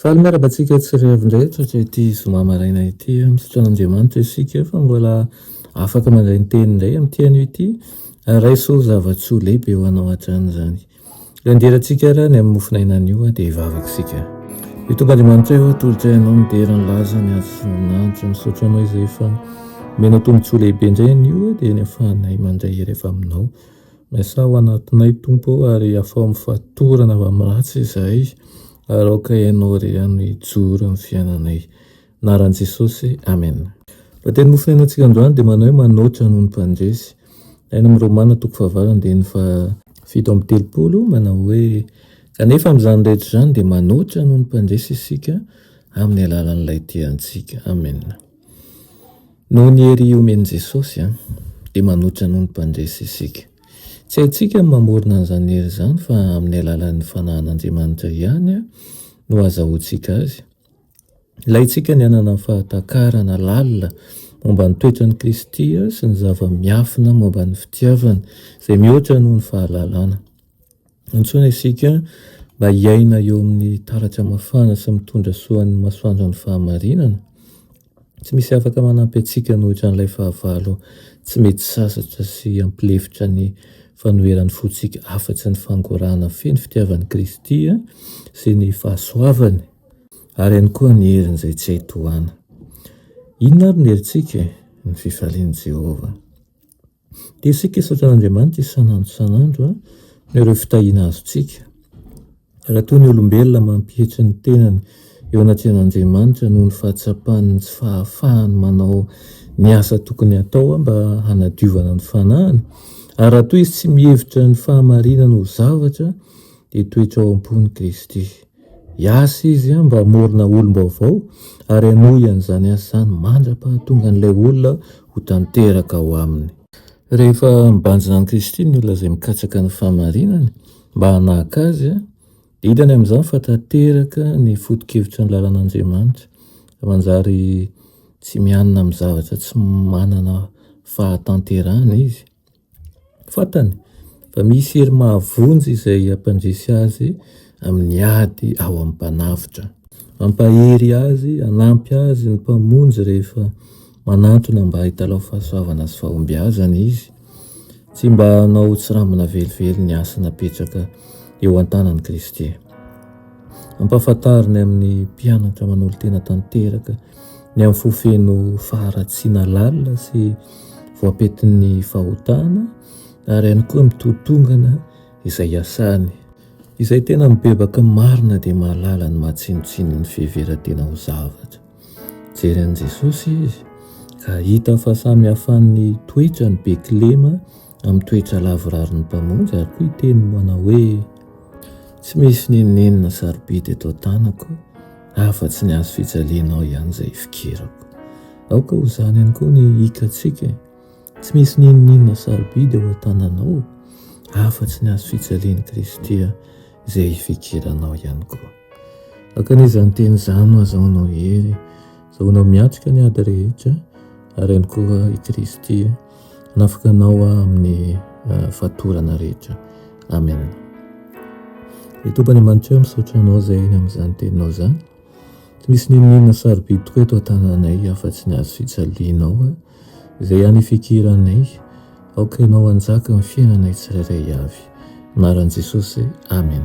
Faly miaraka antsika tsy re avy indray tratra ity zoma maraina ity. Misaotra an'Andriamanitra isika efa mbola afaka mandray ny teniny indray amin'ity anio ity. Raiso ho zava-tsoa lehibe ho anao hatrany izany. Ilay midera antsika ary any amin'ny mofon'aina any io dia hivavaka isika. Io Tompon'Andriamanitra io atolotra ianao midera ny lazany azo sy voninahitra. Misaotra anao izay efa omenao tombontsoa lehibe indray anio dia ny ahafahanay mandray hery avy aminao. Miasà ao anatinay, Tompo ô, ary afao amin'ny fatorana avy amin'ny ratsy izahay, ary aoka Ianao irery hanome hijoro ny fiainanay. Anaran'i Jesosy, Amen. Lohateny nofonenan tsika androany dia manao hoe manoatra noho ny mpandresy. Any amin'ny Romana toko fahavalo andininy faha fito amby telopolo manao hoe kanefa amin'izany rehetra izany dia manoatra noho ny mpandresy isika amin'ny alalan'ilay tia antsika. Amen. Noho ny hery omen'i Jesosy, dia manohitra noho ny mpandresy isika. Tsy haintsika ny mamorona an'izany hery izany fa amin'ny alalan'ny fanahin'Andriamanitra ihany no azahoantsika azy. Ilaintsika ny hanana fahatakarana lalina momba ny toetran'i Kristy sy ny zava-miafina momba ny fitiavany izay mihoatra noho ny fahalalana. Antsoina isika mba hiaina eo amin'ny taratra mafana sy mitondra soa ny masoandron'ny fahamarinana. Tsy misy afaka manampy antsika an'ohatra an'ilay fahavalo tsy mety sasatra sy hampilefitra ny fanoheran'ny fontsika afa-tsy ny fangorahana feno fitiavan'i Kristy sy ny fahasoavany ary ihany koa ny heriny izay tsy hay tohana. Inona ary ny herintsika? Ny fifalian'i Jehovah. Dia isika hisaotra an'Andriamanitra isan'andro isan'andro noho ireo fitahiana azontsika. Raha toa ny olombelona mampietry ny tenany eo anatrehan'Andriamanitra noho ny fahatsapany ny tsy fahafahany manao ny asa tokony hatao mba hanadiovana ny fanahiny, ary raha toa izy tsy mihevitra ny fahamarinana ho zavatra, dia toetra ao am-pon'i Kristy. Hiasa izy mba hamorona olom-baovao ary hanohy an'izany asa izany mandra-pahatongan'ilay olona ho tanteraka ao aminy. Rehefa mibanjina amin'i Kristy ny olona izay mikatsaka ny fahamarinana mba hanahaka Azy, dia hitany amin'izany fa tanteraka ny foto-kevitry ny lalan'Andriamanitra, ary manjary tsy mianina amin'ny zavatra tsy manana fahatanterahana izy. Fantany fa misy hery mahavonjy izay hampandresy azy amin'ny ady ao amin'ny mpanavotra. Hampahery azy, hanampy azy ny Mpamonjy rehefa manantona mba hitalaho fahasoavana sy fahombiazana Izy, tsy mba hanao tsirambina velively ny asa napetraka eo an-tanan'i Kristy. Ampahafantariny amin'ny mpianatra manolo-tena tanteraka Ny amin'ny fo feno faharatsiana lalina sy voapentin'ny fahotana ary ihany koa ny totongana izay iasany. Izay tena mibebaka marina dia mahalala ny maha tsinontsinon'ny fiheveran-tena ho zavatra. Nijery an'i Jesosy izy ka hita fahasamihafàn'ny toetrany be kilema amin'ny toetra lavirarin'ny Mpamonjy ary koa hiteny manao hoe, Tsy misy n'inon'inona sarobidy eto an-tanako afa-tsy ny hazo fijalianao ihany izay ifikirako. Aoka ho izany ihany koa ny hikantsika e. Tsy misy n'inon'inona sarobidy eo an-tananao afa-tsy ny hazo fijalian'i Kristy izay ifikiranao ihany koa. Aoka an'izany teny izany ho azahoanao hery, azahoanao miatrika ny ady rehetra ary ihany koa i Kristy. Nafaka Anao aho amin'ny fatorana rehetra. Amen. Ry Tompo Andriamanitra, misaotra Anao izay amin'izany teninao izany. Tsy misy n'inon'inona sarobidy tokoa eto an-tananay afa-tsy ny azy fijalianao izay ihany ifikiranay. Aoka Ianao hanjaka amin'ny fiainanay tsirairay avy. Anaran'i Jesosy. Amen.